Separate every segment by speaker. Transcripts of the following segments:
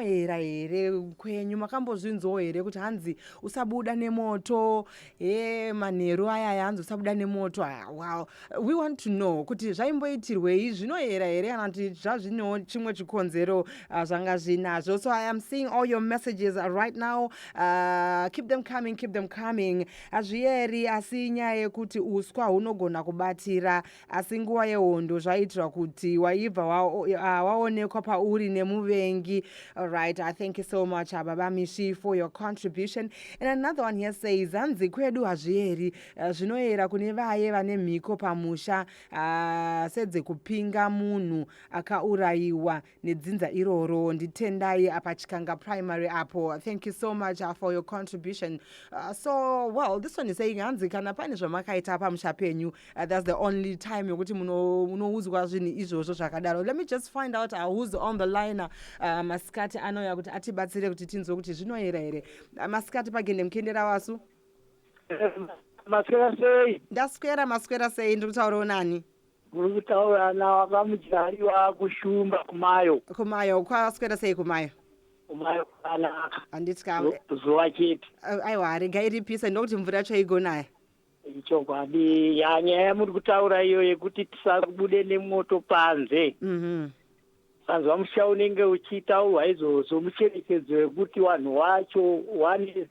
Speaker 1: era here kwenyu makambozvinzwawo here kuti hanzi usabuda nemoto e manheru ayaya hanzi usabuda nemoto wow we want to know kuti zvaimboitirwei zvinoera here kana kuti zvazvinewo chimwe chikonzero uh, zvanga zvinazvo so i am seeing all your messages right now uh, keep them coming keep them coming Hazviyeri asi inyaya yekuti uswa hunogona kubatira asi nguva yehondo zvaiitirwa kuti waibva ah, waonekwa wa pauri nemuvengi. Alright, I thank you so much ah, Baba Mishi for your contribution. And another one here says hanzi kwedu hazviyeri eh, zvinoyera kune vaye vane mhiko pamusha ah, sedzekupinga munhu akaurayiwa nedzinza iroro nditendai apa chikanga primary apo thank you so much uh, for your contribution uh, so well this one is saying hanzi kana pane zvamakaita pamusha penyu uh, that's the only time yokuti munoudzwa zvinhu izvozvo zvakadaro let me just find out uh, who's on the liner uh, masikati anouya kuti atibatsire kuti tinzwe kuti zvinoyera here uh, masikati pagende mukiendera wasu maswera
Speaker 2: sei ndaswera maswera
Speaker 1: sei ndiri kutaurawo nani muri kutaura
Speaker 2: navamudyari vakushumba kumayo kumayo kwaswera
Speaker 1: sei kumayo kumayo
Speaker 2: kwakanaka handiti ka Zu-
Speaker 1: zuva chete
Speaker 2: a- aiwa harega
Speaker 1: iripisa ndokuti mvura yacho igonaya ichokwadi
Speaker 2: ya nyaya yamuri kutaura iyo yekuti tisabude nemoto panze Mhm. sanzwa musha unenge uchitaurwa izvozvo mucherechedzo wekuti vanhu wacho wane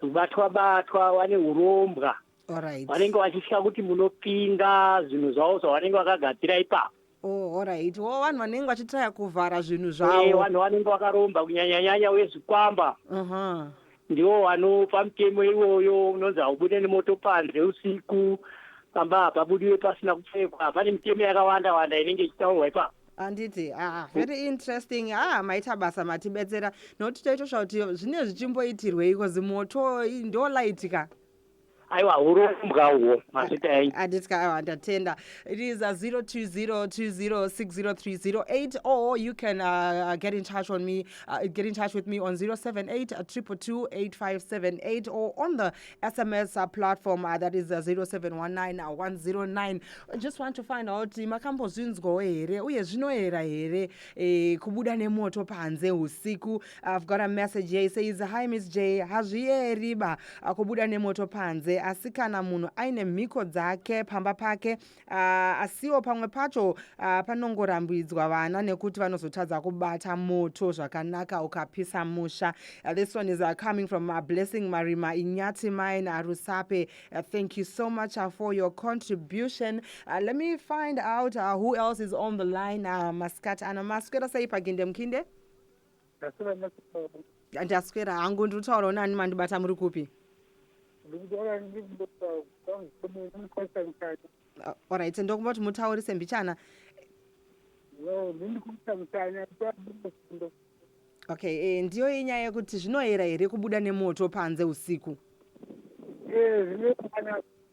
Speaker 2: batwa batwa wane urombwa Alright. vanenge
Speaker 1: vachitya kuti
Speaker 2: munopinga zvinhu zvavo zvavanenge vakagadzira ipapo Oh, alright.
Speaker 1: Wo vanhu vanenge vachitaya kuvhara zvinhu Eh, zvavo. vanhu vanenge vakaromba
Speaker 2: kunyanyanyanya vezvikwamba Aha. ndiwo vanopa mutemo iwoyo unonzi haubude nemoto panze usiku pamba hapabudiwe pasina kupfekwa pane mitemo yakawanda wanda inenge ichitaurwa ipapo handiti ah,
Speaker 1: very interesting ah, maita basa matibetsera nokuti taitosva kuti zvinenge zvichimboitirweiko zimoto i- ndolaitika aiwa
Speaker 2: hurombwa uhwo mazvita enyu handiti ka aiwa ndatenda
Speaker 1: it is uh, 0202060308 or you can uh, get in touch on me uh, get in touch with me on 078 2228578 or on the sms uh, platform uh, that is uh, 0719109109 I just want to find out kuti makambozvinzwawo here uye zvinoera here eh, kubuda nemoto panze usiku I've got a message here. He says, Hi, Miss J. Hazvieri ba kubuda nemoto panze asi kana munhu aine mhiko dzake pamba pake uh, asiwo pamwe pacho uh, panongorambidzwa vana nekuti vanozotadza kubata moto zvakanaka ukapisa musha. Uh, this one is uh, coming from uh, Blessing Marima Inyati Mine Arusape. Uh, thank you so much uh, for your contribution. Uh, let me find out uh, who else is on the line. Uh, Maskat Anamaskwera Saipaginde Mkinde. ndaswera hangu ndiri kutaurawo nani mandibata muri kupi orit ah, ndokumba kuti mutaurise mbichana okay eh, ndiyo inyaya yekuti zvinoyera here kubuda nemoto panze usiku eh,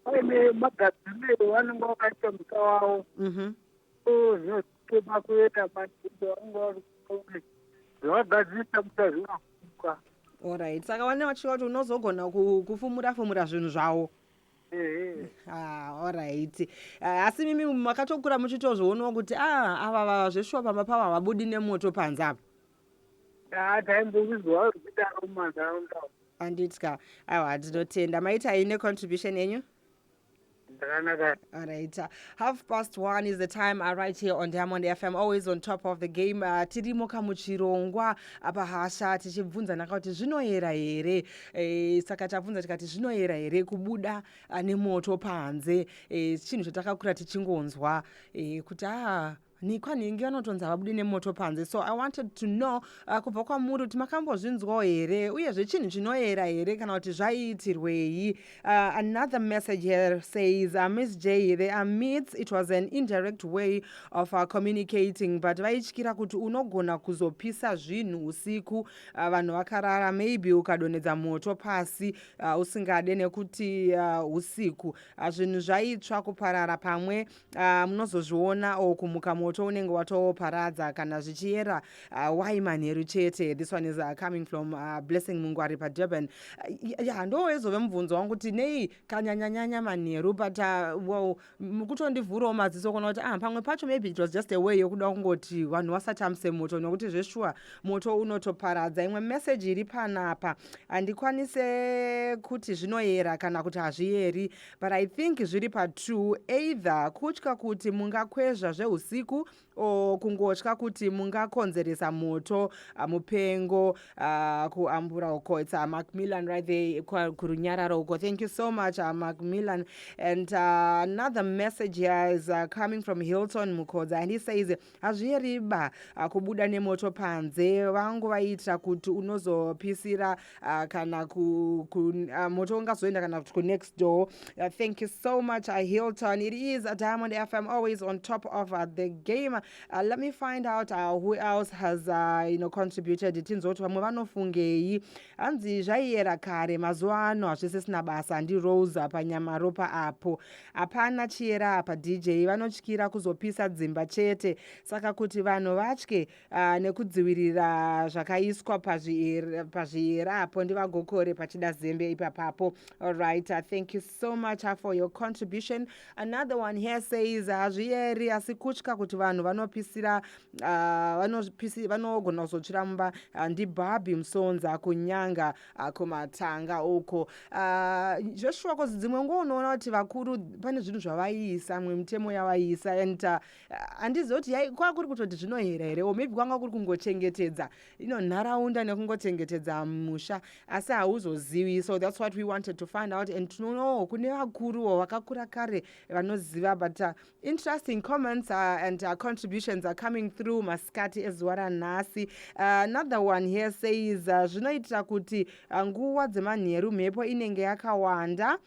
Speaker 3: aine magadziriro vanenge vakaita muta wavo mhm. so zvinoti Toda kuenda madzimba vanenge vari kutonge zvavagadzirisa muchazvinafuka. Alright. Saka
Speaker 1: wane wachiva kuti unozogona ku- kufumura fumura zvinhu zvawo. Ehe. Ah, alright. Eh, Asi mimi makatokura muchitozvionawo kuti ah ava vava zveshuwa pamba pavo havabudi nemoto panze apa. Ah, taimbozvizwa
Speaker 3: vari kudaro mumanharaunda umu. Anditya.
Speaker 1: Aiwa tinotenda. Maitai necontribution yenyu? All right. Uh, half past one is the time uh, right here on Diamond FM. Always on top of the game. Uh, tirimo kamuchirongwa apa hasha tichibvunza naka kuti zvinoyera here e, saka tabvunza tikati zvinoyera here kubuda uh, nemoto panze e, chinhu chatakakura tichingonzwa e, kuti aa ah, nhikwa nhingi vanotonzi havabude nemoto panze so i wanted to know uh, kubva kwamuri kuti makambozvinzwawo here uyezve chinhu chinoyera here kana kuti zvaiitirwei uh, another message here says uh, miss j the amits it was an indirect way of uh, communicating but vaityira kuti unogona kuzopisa zvinhu usiku uh, vanhu vakarara maybe ukadonhedza moto pasi uh, usingade nekuti uh, usiku uh, zvinhu zvaitsva kuparara pamwe uh, munozozviona or kumuka moto unenge watoparadza kana zvichiyera uh, why manheru chete this one is uh, coming from uh, blessing mungwari padurban uh, ya ndo ezove mubvunzo wangu kuti nei kanyanyanyanya manheru but uh, well, kutondivhurawo maziso kuona kuti ah, pamwe pacho maybe it was just a way yokuda kungoti vanhu vasatamuse moto nokuti zveshuwa moto unotoparadza imwe message iri panapa handikwanise kuti zvinoyera kana kuti hazviyeri but i think zviri patwo either kutya kuti mungakwezva zveusiku or kungotya kuti mungakonzeresa moto uh, mupengo uh, kuambura uko its uh, macmillan right there kurunyararo uko thank you so much uh, macmillan and uh, another message here is uh, coming from hilton mukodza and he says hazviyeriba ah, kubuda nemoto panze vangu vaiitira kuti unozopisira ah, kana ku, ku, ah, moto ungazoenda kana kuti kunext door uh, thank you so much uh, hilton it is a diamond fm always on top of uh, the game uh, let me find out uh, who else has uh, you know, contributed tinzwa kuti vamwe vanofungei hanzi zvaiyera kare mazuva ano hazvisisina basa handirose panyamaropa apo Hapana chiyera apa DJ vanotyira kuzopisa dzimba chete saka kuti vanhu vatye uh, nekudzivirira zvakaiswa pazviyera apo ndivagokore pachida zembe ipapapo alright uh, thank you so much uh, for your contribution another one here says hazviyeri uh, asi kutya kuti vanhu vanopisira uh, vanogona kuzotsvira mumba uh, ndibhabhi musonza kunyanga ako matanga uko uh, joshua kozi dzimwe nguva unoona kuti vakuru pane zvinhu zvavaiisa mwe mitemo yavaiisa and ah, handizi uh, kuti kwaa kuri kutoti zvinohera here o maybe kwanga kuri kungochengetedza ino nharaunda nekungochengetedza musha asi hauzozivi so thats what we wanted to find out and tinoonawo kune vakuruwo vakakura kare vanoziva but uh, interesting comments uh, and uh, contributions are coming through masikati ezuva ranhasi uh, another one here says uh, zvinoitira uh, kuti uh, nguva dzemanheru mhepo inenge yakawanda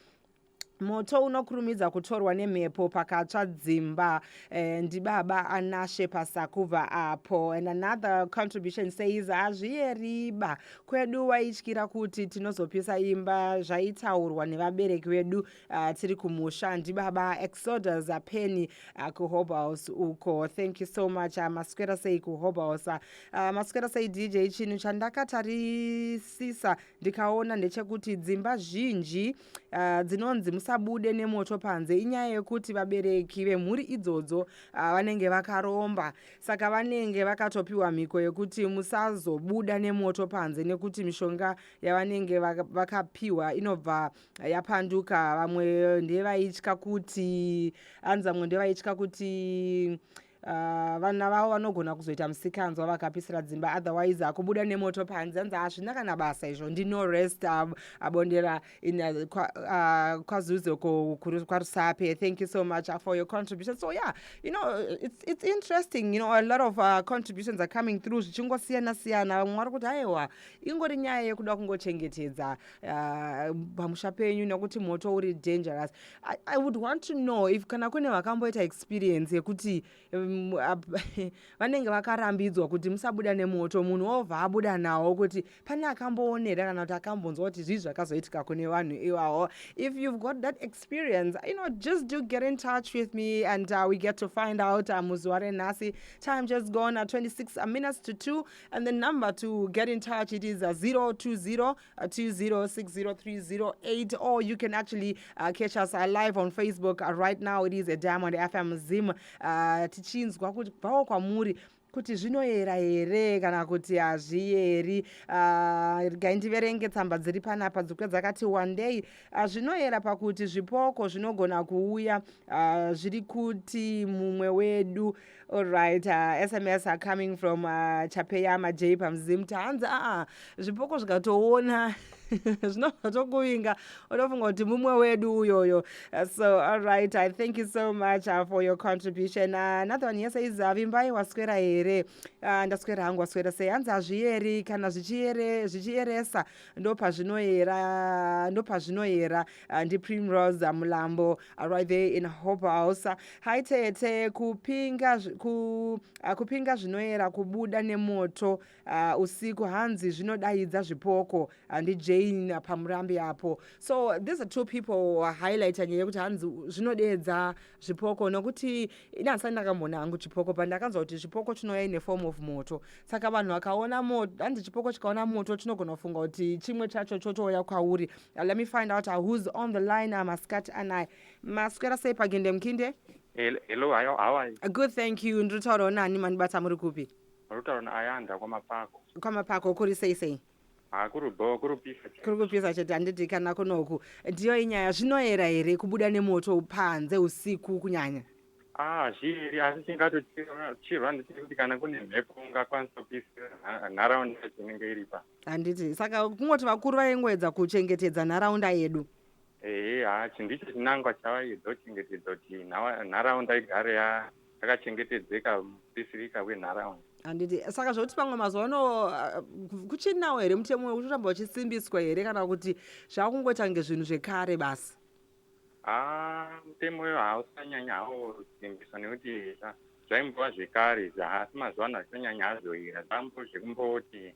Speaker 1: moto unokurumidza kutorwa nemhepo pakatsva dzimba eh, ndibaba anashe pasakuva apo and another contribution says hazviyeriba kwedu waityira kuti tinozopisa imba zvaitaurwa nevabereki vedu uh, tiri kumusha ndibaba exodus apeni uh, ah, kuhobhouse uko thank you so much uh, maswera sei kuhobhouse uh, maswera sei dj chinhu chandakatarisisa ndikaona ndechekuti dzimba zhinji uh, dzinonzi musabude nemoto panze inyaya yekuti vabereki vemhuri idzodzo uh, vanenge vakaromba saka vanenge vakatopiwa mhiko yekuti musazobuda nemoto panze nekuti mishonga yavanenge vakapiwa inobva yapanduka vamwe ndevaitya kuti anzi vamwe ndevaitya kuti uh, vana vavo vanogona kuzoita musikanzwa vakapisira dzimba otherwise hakubuda nemoto panze anzi hazvina kana basa izvo ndino rest ab, abondera in uh, kwa, uh, kwazuzo kwarusape thank you so much uh, for your contribution so yeah you know it's, it's interesting you know a lot of uh, contributions are coming through zvichingosiyana siyana vamwe vari kuti aiwa ingori nyaya yekuda kungochengetedza ah, pamusha uh, penyu nekuti moto uri dangerous I, i would want to know if kana kune vakamboita experience yekuti um, vanenge um, vakarambidzwa kuti musabuda nemoto munhu wobva abuda nawo kuti pane akamboonera kana kuti akambonzwa kuti zvii zvakazoitika kune vanhu iwawo if you've got that experience you know just do get in touch with me and uh, we get to find out uh, muzuva renhasi time just gone uh, 26 minutes to 2 And the number to get in touch it is 020-2060-308 uh, or you can actually uh, catch us uh, live on Facebook uh, right now it is a Diamond FM Zim uh, tichinzwa kuti bvawo kwamuri kuti zvinoyera here kana kuti hazviyeri ah, regai ndiverenge tsamba dziri panapa dzikwe dzakati wandei ah, zvinoyera pakuti zvipoko zvinogona kuuya ah, zviri kuti mumwe wedu All right, uh, SMS are coming from uh, Chapeyama J pamzim tanzi aa zvipoko zvikatoona zvinobva tokuvinga unofunga kuti mumwe wedu uyoyo uh, so all right i thank you so much uh, for your contribution uh, another one yese izi avimbai waswera here uh, ndaswera hangu waswera sei hanzi hazviyeri kana zvichiyeresa ndo pazvinoyera ndo pazvinoyera Uh, ndiprimrose uh, mulambo uh, right there in hope house uh, hi tete kupinga ku, uh, kupinga zvinoera kubuda nemoto uh, usiku hanzi zvinodaidza zvipoko handi uh, jane uh, pamurambi apo so these are two people uh, highlighta nyaya yekuti hanzi zvinodeedza zvipoko nokuti ini handisati ndakamboona hangu chipoko pandakanzwa kuti zvipoko chinouya ine form of moto saka vanhu vakaona moto hanzi chipoko chikaona moto chinogona kufunga kuti chimwe chacho chotouya kwauri uh, let me find out uh, who's on the line uh, masikati anaye maswera sei pagende mukinde hello
Speaker 4: how are you good thank you ndiri
Speaker 1: taurawo nani mandibata muri kupi rutaurona ayanda
Speaker 4: kwamapako kwamapako kuri
Speaker 1: sei sei Ah, kuri bho kuri kupisa chete. kuri kupisa chete handiti kana kunoku ndiyo inyaya zvinoera here kubuda nemoto panze usiku kunyanya Ah, zviri
Speaker 4: asi chingatochirwa nditi kuti kana kune mhepo ungakwanisa kupisira nha- nharaunda yacho inenge iripa. handiti saka
Speaker 1: kungoti vakuru vaingoedza kuchengetedza nharaunda yedu Ehe, ah,
Speaker 4: chindicho chinangwa chavaidza kuchengetedza kuti nhawa- nharaunda igare ya akachengetedzeka mupisirika wenharaunda handiti saka zvokuti
Speaker 1: pamwe mazuva ano ah, kuchinawo here mutemo wekutoramba uchisimbiswa here kana kuti zvava kungoita kunge zvinhu zvekare basi haa mutemo
Speaker 4: uyo hausanyanya haosimbiswa nekuti ah, zvaimbova zvekare izvi asi mazuva ano hazvisanyanya hazvoira zvambo zvekumboti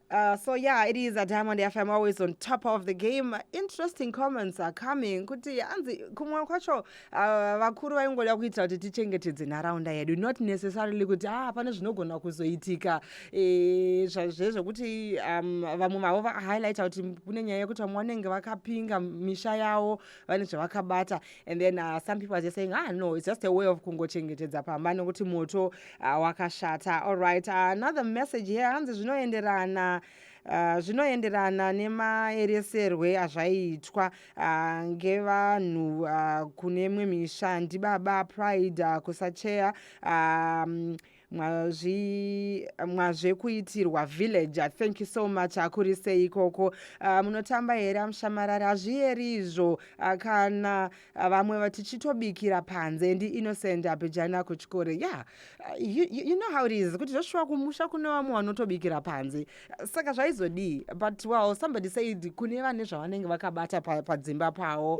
Speaker 1: Uh,
Speaker 4: so yeah,
Speaker 1: it is a Diamond FM always on top of the game. Interesting comments are coming. Kuti hanzi kumwe kwacho uh, vakuru vaingoda kuitira kuti tichengetedze nharaunda yedu not necessarily kuti ah pane zvinogona kuzoitika eh, zvezvekuti um, vamwe mavo vahighlighta kuti kune nyaya yekuti vamwe vanenge vakapinga misha yawo vane zvavakabata and then uh, some people are just saying ah no it's just a way of kungochengetedza pamba nekuti moto uh, wakashata all right uh, another message here hanzi zvinoenderana Uh, zvinoenderana nemaereserwe azvaiitwa uh, ngevanhu uh, kune imwe misha ndibaba pride uh, kusacheya um, mwazvekuitirwa villager thank you so much akuri sei ikoko uh, ah, munotamba here amushamarari hazviyeri izvo uh, kana uh, vamwe vatichitobikira panze ndi innocent apejana kuchikore ya yeah. uh, you, you know how it is kuti zvoshuwa kumusha kune vamwe vanotobikira panze uh, saka zvaizodii but well somebody said kune vane zvavanenge vakabata padzimba pa pavo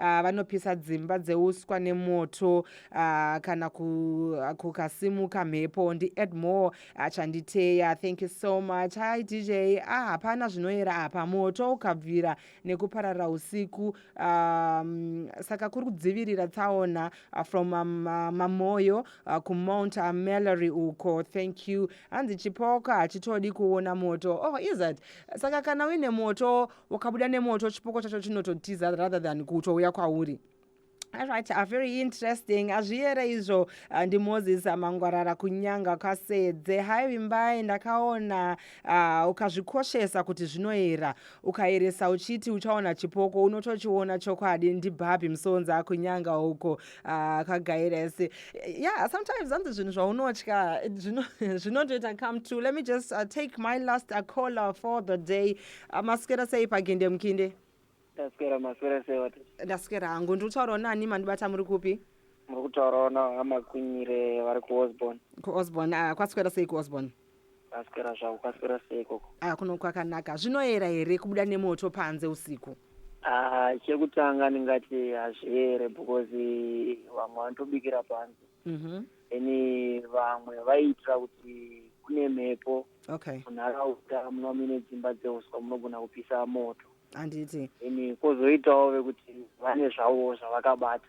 Speaker 1: uh, vanopisa dzimba dzeuswa nemoto uh, kana kukasimuka ku mhepo ndiedmore uh, chanditeya thank you so much hi dj ah, hapana zvinoyera apa moto ukabvira nekuparara usiku um, saka kuri kudzivirira tsaona uh, from um, uh, mamoyo uh, kumount uh, malory uko thank you hanzi chipoko hachitodi kuona moto oh is that saka kana uine moto ukabuda nemoto chipoko chacho chinototiza rather than kutouya kwauri Alright, uh, very interesting. Azviyere izvo uh, ndi Moses Mangwarara kunyanga kwasedze. Hai Vimbai ndakaona uh, ukazvikoshesa kuti zvinoera. Ukaeresa uchiti uchaona chipoko unotochiona chokwadi ndi Barbie Msonza kunyanga uko uh, kagaires. Yeah, sometimes hanzi zvinhu zvaunotya zvinotoita come true. Let me just uh, take my last uh, caller for the day. Ah, maswera sei paginde mukinde ndaswera maswera
Speaker 3: sei wati ndaswera hangu ndiri
Speaker 1: kutaurawo nani mandibata muri kupi muri kutaurawo
Speaker 3: navamakunyire vari kuosborn kuosborn ah, kwaswera
Speaker 1: sei kuosborn ndaswera zvavo
Speaker 3: kwaswera sei ikoko ah, kuno kwakanaka
Speaker 1: zvinoyera here kubuda nemoto panze usiku Ah,
Speaker 3: chekutanga ndingati hazviere because vamwe vanotobikira panze mhm. ene vamwe vaiitira kuti kune mhepo okay munharaunda
Speaker 1: munova
Speaker 3: muine dzimba dzeuswa munogona kupisa moto handiti ene
Speaker 1: kwozoitawo
Speaker 3: vekuti vane zvavo zvavakabata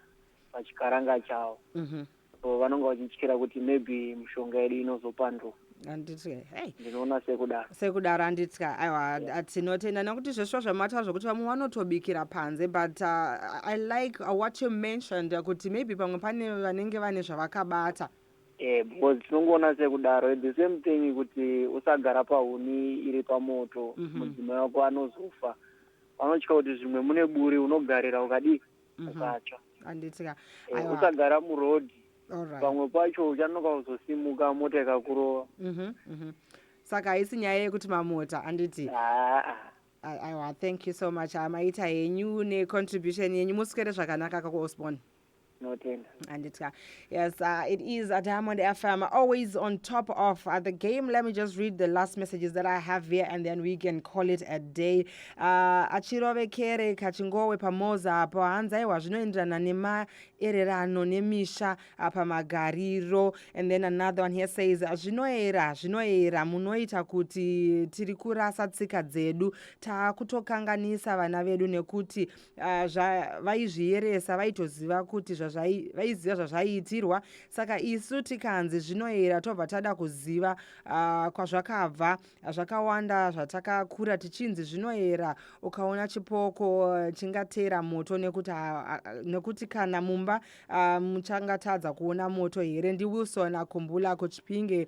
Speaker 3: pachikaranga chavo mhm. so vanonga vachityira kuti maybe mishonga yedu inozopanduka anditye hey
Speaker 1: ndinoona sekudaro
Speaker 3: sekudaro anditya
Speaker 1: aiwa yeah. tinotenda nekuti zveshuwa zvamataura zvekuti vamwe vanotobikira panze but uh, i like uh, what you mentioned kuti maybe pamwe pane vanenge vane zvavakabata eh because
Speaker 3: tinongoona sekudaro the same thing kuti usagara pahuni iri pamoto mhm. mudzimai wako anozofa vanotya kuti zvimwe mune buri unogarira ukadii mhm. ukatsva anditya
Speaker 1: eh, usagara
Speaker 3: muroad Alright. pamwe pacho uchanoka kuzosimuka mota ikakurova Mhm, mhm.
Speaker 1: saka haisi nyaya yekuti mamota anditi haa A- aiwa thank you so much Ah, maita henyu necontribution yenyu muswere zvakanaka kakuosborn tinotenda anditya yes uh, it is a diamond fm always on top of uh, the game let me just read the last messages that i have here and then we can call it a day uh, achirovekere kachingowe pamoza apo hanzi aiwa zvinoenderana nema ererano nemisha apa magariro and then another one here says zvinoera zvinoera munoita kuti tiri kurasa tsika dzedu takutokanganisa vana vedu nekuti uh, vaizviyeresa vaitoziva kuti vaiziva zvazvaiitirwa saka isu tikanzi zvinoera tobva tada kuziva uh, kwazvakabva zvakawanda zvatakakura tichinzi zvinoera ukaona chipoko eh, chingateera moto nekuti ah, ah, nekuti kana mumba ah, muchangatadza kuona moto here ndiwilson akumbula kuchipinge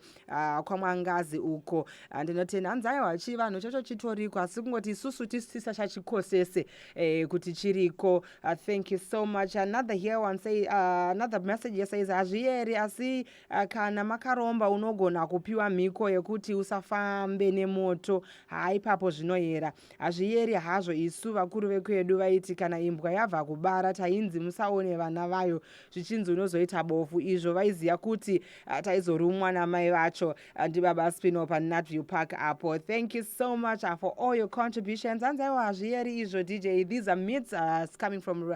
Speaker 1: kwamwangazi uko ndinoti hanzi aiwa chivanhu chacho chitoriko asi kungoti isusu tisisa chachikosese eh, kuti chiriko thank you so much another here one say another message yesays hazvieri asi Ah, kana makaromba unogona kupiwa mhiko yekuti usafambe nemoto haa ipapo zvinoyera hazviyeri hazvo isu vakuru vekwedu vaiti kana imbwa yabva kubara tainzi musaone vana vayo zvichinzi unozoita bofu izvo vaiziva kuti ah, taizorumwa namai vacho ah, ndibaba spino panatview park apo thank you so much for all your contributions hanzaiwo hazviyeri izvo dj these are myths uh, coming from